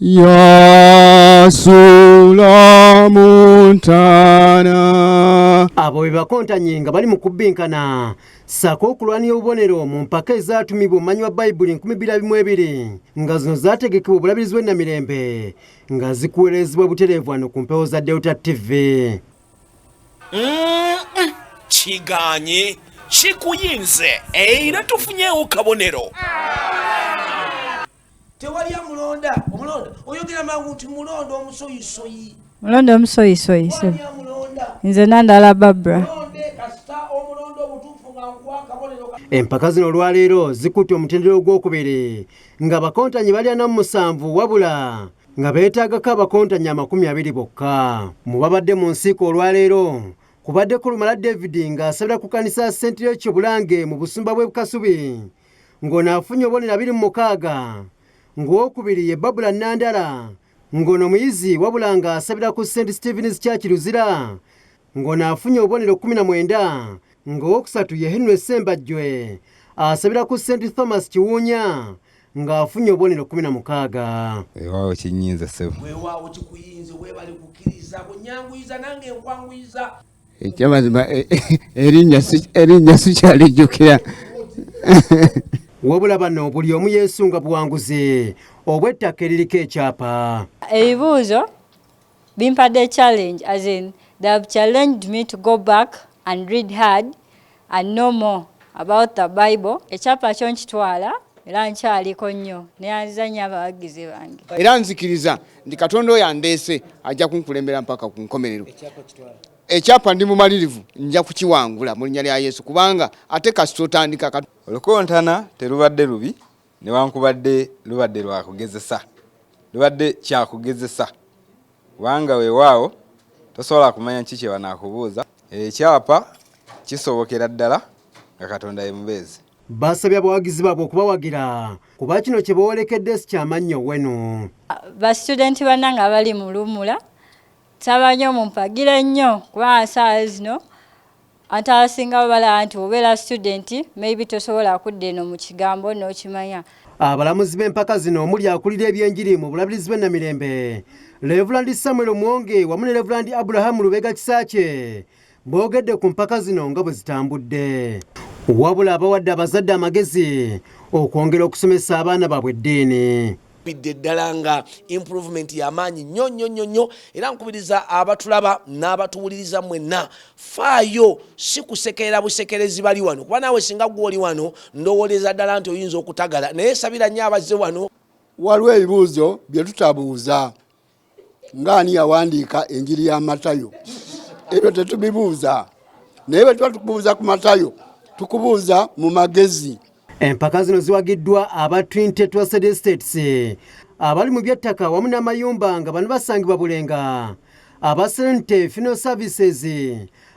yasulamuntana abo bebakontanye nga bali mu kubbinkana ssaako okulwanira obubonero mu mpaka ezaatumibwa omumanyi wa bayibuli nkumi bbiri abimu ebiri nga zino zaategekebwa obulabirizi bw'ennamirembe nga zikuweerezebwa butereevu wano ku mpewo za delta tv kiganye kikuyinze era tufunyewo kabonero tewali amulonda omulonda oyogera mangu nti mulonda omusoyisoyi mulonda omusoyisoyi nze nandala babra empaka zino olwaleero zikutte omutendera ogwokubiri nga abakontanyi balya namu musanvu wabula nga beetaagako abakontanyi amakumi abiri bokka mu babadde mu nsiiko olwaleero kubadde kulumala david ng'asabira ku kanisa sentire kyobulange mu busumba bw'e bukasubi ng'ono afunye obubonero abiri mu mukaaga ng'owokubiri ye Babula Nandala ng'ono muyizi wabula ng'asabira ku St Stephen's Church Luzira ng'ono afunye obubonero kkumi na mwenda ng'owokusatu ye Henry Ssembajjwe asabira ku St Thomas Kiwuunya ng'afunye obubonero kkumi na mukaaga. Weewaawo kinyinza ssebo. Weewaawo kikuyinze weebale kukkiriza kunyanguyiza nange nkwanguyiza. ekyamazima eh, eh, erinnya sikyalijjukira wabula bano buli omu yeesunga buwanguzi obw'ettaka eririko ekyapa ebibuuzo bimpadde challenge as in they have challenged me to go back and read hard I know more about the Bible. Ekyapa kyo nkitwala era nkyaliko nnyo neyanziza nnyo abawagizi bange era nzikiriza nti katonda oyo andeese ajja kunkulembera mpaka ku nkomerero ekyapa ndi mumalirivu nja kukiwangula mu linnya lya yesu kubanga ate kasita otandika olukontana terubadde lubi Newankubadde lubadde lwa kugezesa, lubadde kya kugezesa kubanga weewaawo tosobola kumanya ki kye banaakubuuza. Ekyapa kisobokera ddala nga Katonda ye mubeezi. Basabye abawagizi baabwe okubawagira kuba kino kye boolekedde si kya mannyo wenu. Ba situdenti bannange abali mu luwummula nsaba nnyo mumpagire nnyo kuba nsaawa zino Anti abasinga babala anti obeera student maybe tosobola kudda eno mu kigambo n'okimanya. Abalamuzi b'empaka zino omuli akulira ebyenjiri mu bulabirizi bw'e Namirembe Levulandi Samuel Mwonge wamu ne Levulandi Abraham Lubega Kisaakye boogedde ku mpaka zino nga bwe zitambudde wabula abawadde abazadde amagezi okwongera okusomesa abaana baabwe eddiini. bidde ddala nga improvement yamaanyi nnyo nnyo nnyo nnyo era nkubiriza abatulaba n'abatuwuliriza mwenna faayo si kusekerera busekerezi bali wano kuba naawe singa gwe oli wano ndowooleza ddala nti oyinza okutagala naye sabira nnyo abazze wano waliwo ebibuuzo bye tutabuuza ng'ani yawandiika enjiri ya matayo ebyo tetubibuuza naye bwe tuba tukubuuza ku matayo tukubuuza mu magezi empaka zino ziwagiddwa aba twin tetrasted estates abali mu byettaka wamu n'amayumba nga bano basangibwa bulenga aba sente fino services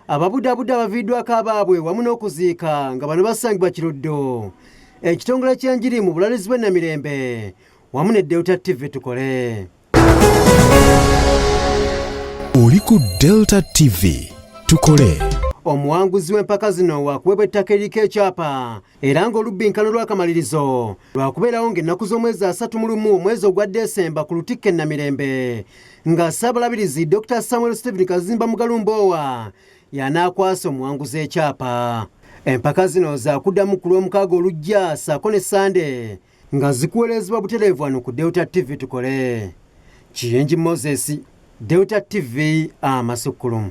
ababudabuda abaviiddwako abaabwe wamu n'okuziika nga bano basangibwa kiruddo ekitongole ky'enjiri mu bulalizi bw'ennamirembe wamu ne Delta TV tukole. Oli ku Delta TV tukole. Omuwanguzi w'empaka zino wakuweebwa ettaka eriko ekyapa era ng'olubbinkano lwakamalirizo lwakubeerawo ng'ennaku z'omwezi asatu mu lumu omwezi ogwa Desemba ku lutikka e Namirembe nga Ssaabalabirizi Dr Samuel Stephen Kazimba Mugalumboowa y'anaakwasa omuwanguzi ekyapa. Empaka zino zaakuddamu ku Lwomukaaga olujja ssaako ne Ssande Nga zikuweerezebwa butereevu wano ku Delta TV tukole. Kiyengi Moses, Delta TV amasukkulumu.